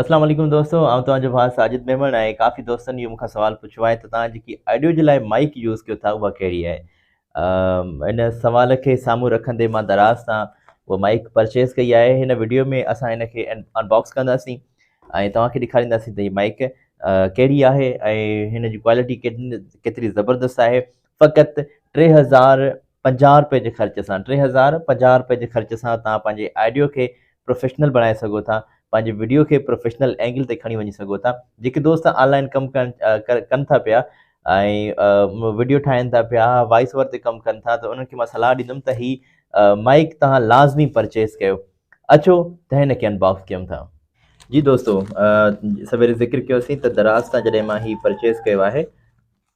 اسلام عليڪم دوستو آئون توهان جو ڀاء ساجد ميمڻ ۽ ڪافي دوستن اهو مون کان سوال پڇيو آهي ته توهان جيڪي آڊيو جي لاء مائيڪ يوز ڪيو ٿا اها ڪهڙي آهي ان سوال کي سامهون رکندي مان دراز سان اها مائيڪ پرچيز ڪئي آهي هن وڊيو ۾ اسان ان کي انباڪس ڪنداسين ۽ توهان کي ڏيکارينداسين ته هي مائيڪ ڪهڙي آهي ۽ هن جي ڪوالٽي ڪيتري زبردست آهي فقط ٽي هزار پنجاهه رپئي جي خرچ سان ٽي هزار پنجاهه رپئي جي خرچ سان توهان پنهنجي آڊيو کي پروفيشنل بڻائي سگهو ٿا پنهنجي وڊيو کي پروفيشنل اينگل تي کڻي وڃي سگهو ٿا جيڪي دوست آنلائن ڪم ڪرڻ ڪن ٿا پيا ۽ وڊيو ٺاهين ٿا پيا وائس اوور تي ڪم ڪن ٿا ته انهن کي مان صلاح ڏيندم ته هي مائڪ توهان لازمي پرچيز ڪيو اچو ته هن کي انباڪس ڪيون ٿا جي دوستو سويري ذڪر ڪيوسين ته دراز تان جڏهن مان هي پرچيز ڪيو آهي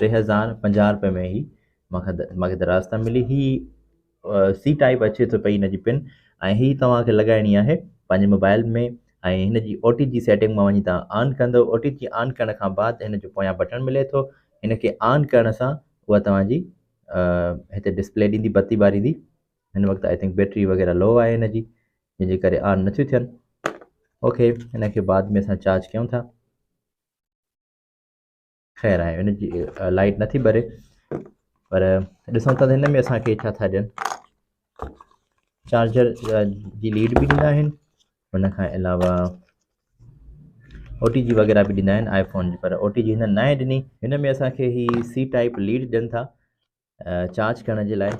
ٽي هزار پنجاهه رپئي ۾ هي مونکي دراز تان ملي هي سي ٽائيپ اچي ٿو پئي هن جي پن ۽ هي توهان کي لڳائڻي آهي پنهنجي موبائل ۾ ۽ هن جي او ٽي جي سيٽنگ مان وڃي توهان آن ڪندو او ٽي جي آن ڪرڻ کان بعد هن جو پويان بٽڻ ملي ٿو هن کي آن ڪرڻ سان اها توهانجي هتي ڊسپلي ڏيندي بتي ٻاريندي هن وقت آئي ٿنڪ بيٽري وغيره لو آهي هن جي جنهن جي ڪري آن نٿيون ٿين اوکي هن کي بعد ۾ اسان چارج ڪيون ٿا خير آهي ان جي لائٽ نٿي ٻري پر ڏسو ته هن ۾ اسان کي ڇا ٿا ڏين چارجر جي ليڊ بي ڏيندا آهن ان کان علاوه او ٽي جي وغيرہ به ڏيندا آهن آئي فون جي پر او ٽي جي هن ناهي ڏني هن ۾ اسانکي هي سي ٽائپ ليڊ ڏين ٿا چارج ڪرڻ جي لاء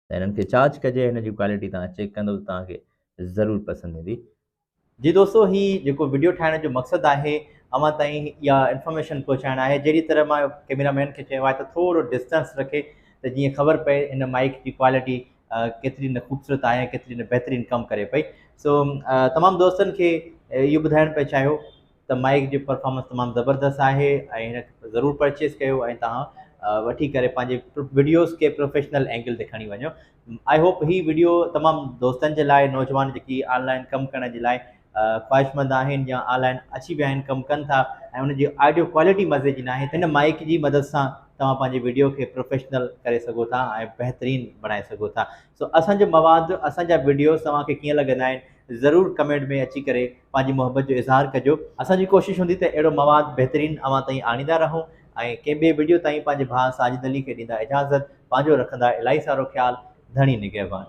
ته هنن کي چارج ڪجي هن جي ڪوالٽي توهان چيڪ ڪندو ته توهان کي ضرور پسند ايندي. جي دوستو هي جيڪو وڊيو ٺاهڻ جو مقصد آهي اوهان تائين اها انفارميشن پهچائڻ آهي جهڙي طرح مان ڪيميرا مين کي چيو آهي ته ٿورو ڊسٽنس رکي ته جيئن خبر پئي هن مائيڪ جي ڪوالٽي ڪيتري نه خوبصورت آهي ۽ ڪيتري نه بهترين ڪم ڪري پئي سو تمام دوستن کي اهو ٻڌائڻ پئي چاهيو ته مائيڪ جي پرفارمنس تمام زبردست آهي ۽ هن کي ضرور پرچيز ڪيو ۽ توهان وٺي ڪري پنهنجي وڊيوز کي پروفيشنل اينگل تي کڻي وڃو آئي هوپ هي وڊيو تمام دوستن جي لاء نوجوان جيڪي آنلائن ڪم ڪرڻ جي لاء خواهشمند آهن يا آنلائن اچي ويا آهن ڪم ڪن ٿا ۽ ان جي آڊيو ڪوالٽي مزي جي ناهي هن مائيڪ جي مدد سان توهان پنهنجي وڊيو کي پروفيشنل ڪري سگهو ٿا ۽ بهترين بڻائي سگهو ٿا سو اسانجو مواد اسانجا وڊيوز توهان کي ڪيئن لڳندا آهن ضرور ڪمينٽ ۾ اچي ڪري پنهنجي محبت جو اظهار ڪجو. اسان جي ڪوشش هوندي ته اهڙو مواد بهترين اوهان تائين آڻيندا رهون ۽ ڪنهن ٻئي وڊيو تائين پنهنجي ڀاء ساجد علي کي ڏيندا اجازت پنهنجو رکندا الائي سارو خيال ڌڻي نگهبان.